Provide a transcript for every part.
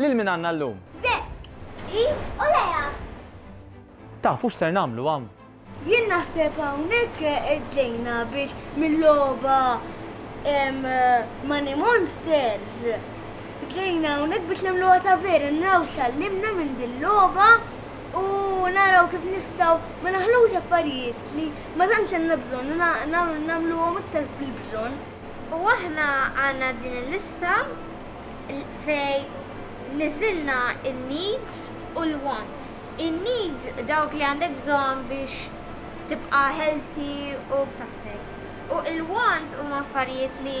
Lil min għandna llum? Zekk, Eve u Lea. Tafu x'ser nagħmlu hawn? Jien naħseb hawnhekk ġejna biex mill-logħba Money Monsters. Ġejna hawnhekk biex nagħmluha ta' vera nraw x'għallimna minn din logħba u naraw kif nistgħu ma naħlux affarijiet li ma tantx għandna bżonn u nagħmluhom iktar fil-bżonn. U aħna għandna din il-lista fejn niżilna n-needs u l-wants. In-needs dawk li għandek bżonn biex tibqa' healthy u b'saħħtek. U l-wants huma affarijiet li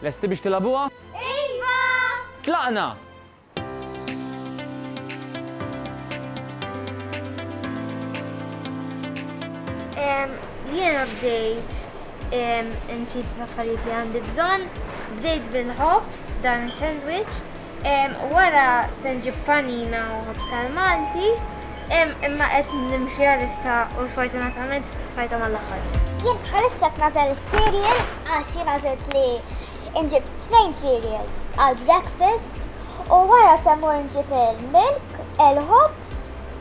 Lesti biex tilagħbuha? Iva! Tlaqna! Jiena bdejt insib l-affarijiet li għandi bżonn, bdejt bil-ħobż dan is-sandwich, Wara se nġib panina u ħobż tal-Malti, imma qed nimxi għalissa u sfortunatament tfajthom għall-aħħar. Jien bħalissa qed nagħżel is-cereal għax jien għażilt li nġib tnejn cereals għall-breakfast u wara se mmur nġib il-milk, il-ħobż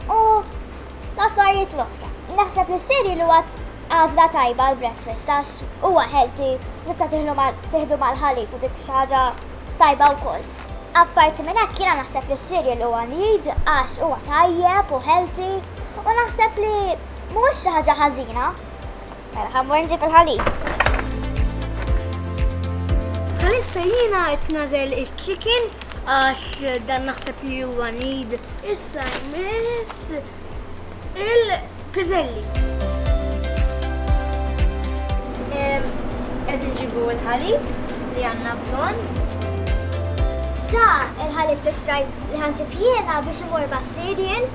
u l-affarijiet l-oħra. Naħseb li s-cereal huwa Għażla tajba għal breakfast għax huwa healthy, tista' tieħdu mal-ħalib u dik xi ħaġa tajba wkoll. Apparti minn hekk jiena naħseb li s-cereal huwa need għax huwa tajjeb u healthy u naħseb li mhuwiex xi ħaġa ħażina. Mela ħammur nġib il-ħalib. Għalissa jina għet nazel il-chicken għax dan naħseb li huwa need. Issa jmiss Il-piżelli. Qed inġibu l-ħalib li għandna bżonn. Da il-ħalib li xtrajt li ħanġib jiena biex imur ma' Sirien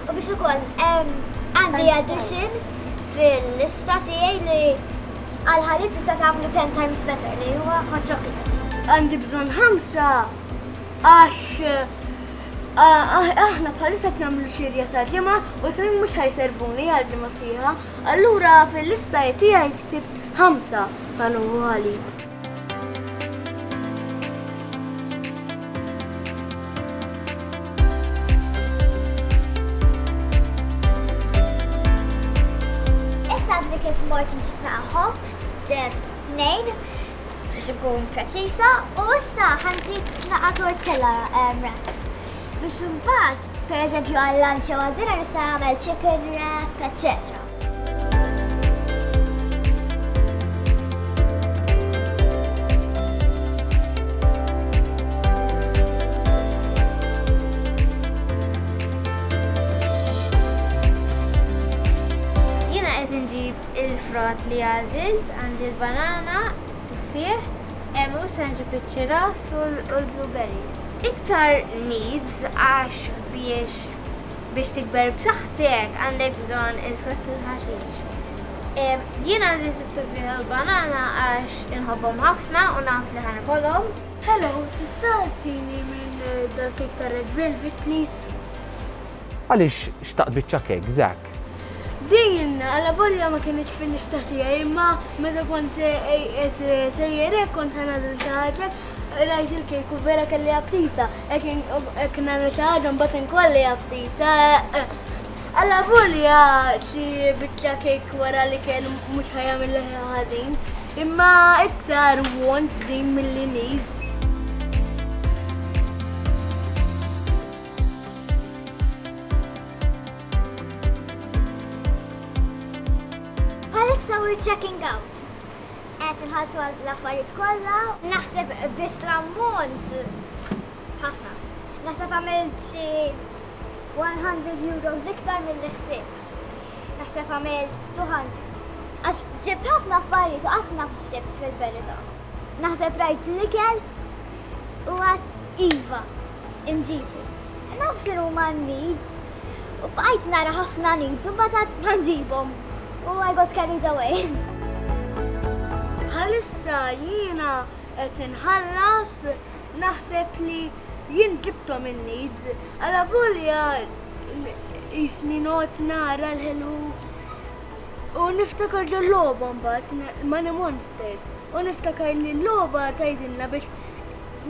u biex ukoll għandi addition fil-lista tiegħi li għal ħalib tista' tagħmlu 10 times better li huwa hot chocolate. Għandi bżonn ħamsa għax Aħna bħalissa qed nagħmlu xirja ta' ġimgħa u tnejn mhux ħajservuni għal ġimgħa sħiħa, allura fil-lista tiegħi ktibt ħamsa bħal għali. Issa għadni kif mort nġibna ħobs ġert tnejn biex ikun preċiża u issa ħanġi naqa' tortilla ehm, wraps. Biex imbagħad, pereżempju għal lunch jew għal dinner nista' nagħmel chicken wrap, eċċetera. Il-frott li għażilt, għandi l-banana, tuffieħ, għemgħu, sanġipiċċi ras u l-blueberries. Iktar needs għax biex biex tikber b'saħħtek għandek bżonn il-frott u l-ħaxix. Jien għażilt it-tuffieħ u l-banana għax inħobbhom ħafna u naf li ħa nikolhom. Hello, tista' tini minn dal-kejk tar-red velvet please? Għaliex xtaqt biċċa kejk, Zak? Din, għalla volja ma kienieċ fil-lista tijaj, imma meta kont sejjer ek kont għana din taħġek, rajt il-kejk u vera kelli appita, ek nana taħġan batin kolli appita. Għalla volja ċi bitċa kejk wara li kien mux ħajja mill ħazin, imma iktar wants din mill-li need. Bħalissa we're checking out. Qed inħallsu għal l-affarijiet kollha. Naħseb biss l-ammont ħafna. Naħseb għamil xi 100 euros iktar mill-li ħsibt. Naħseb għamilt 200. Għax ġibt ħafna affarijiet u qasna f'ġibt fil-verità. Naħseb rajt l-ikel u għat Iva, inġibu. Naf xinu ma needs. U bqajt nara ħafna needs u batat ma nġibom. U I got carried away. Għalissa jiena qed inħallas naħseb li jien ġibtom in-needs. Għala volja jisni not nara l-ħelu U niftakar ġo l-loba mbagħad Money Monsters. U niftakar li l-loba tajdinna biex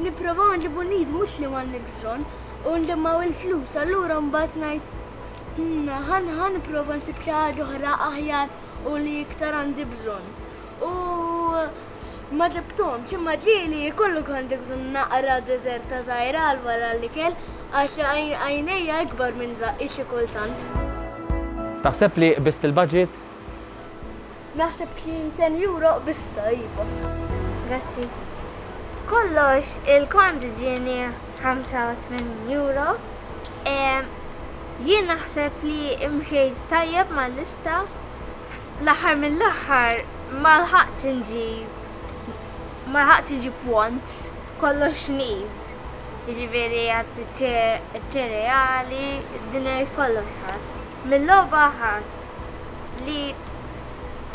nipprovaw nġibu nid mhux li m'għandni bżonn u nġemmaw il-flus. Allura mbagħad ngħid hmm, ħan ħan nipprova nsib xi ħaġa oħra aħjar u li iktar għandi bżonn. U Ma ġibthomx, imma ġieli jkollu għandi bżonn naqra deżerta żgħira għal wara l-ikel għax għajnejja ikbar minn żaqqi xi kultant. Taħseb li qbist il-budget? Naħseb xi ten euro qbistha, iva. Grazzi. B'kollox, il-kont ġieni 85 euro. Jien naħseb li mxejt tajjeb mal-lista. L-aħħar mill-aħħar ma lħaqtx inġib ma lħaqtx inġib pont kollox needs. Jiġifieri għad iċ-ċereali, id-dinner kollox ħadd. Mil-logħba ħadd li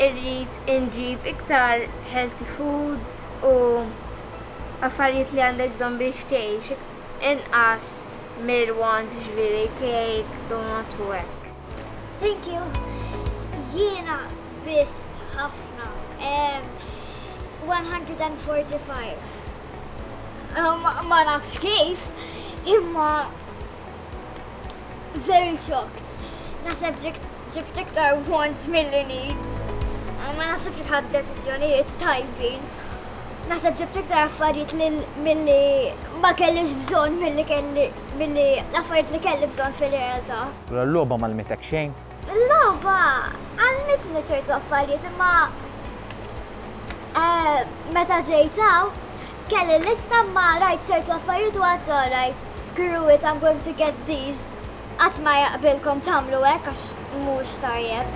rrid inġib iktar healthy foods u affarijiet li għandek bżonn biex tgħix inqas mir-wants jiġifieri cake, donut u hekk. Thank you. Jiena biss ħafna. 145. Ma nafx kif, imma very shocked. Naseb ġibt iktar wants mill-li needs. Ma naseb xħad deċizjonijiet tajbin. Naseb ġibt iktar affarijiet mill-li ma kellix bżon mill-li kelli Milli l-affarijiet li kelli bżonn fir-realtà. Mela l-logħba m'għallmitek xejn? Il-logħba għallmitni ċertu affarijiet imma meta ġejt hawn kelli lista imma rajt ċertu affarijiet u għad rajt screw it I'm going to get these. Qatt ma jaqbilkom tagħmlu hekk għax mhux tajjeb.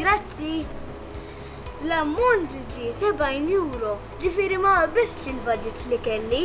Grazzi. L-ammont ġie 70 euro, ġifieri ma qabiżtx il-budget li kelli.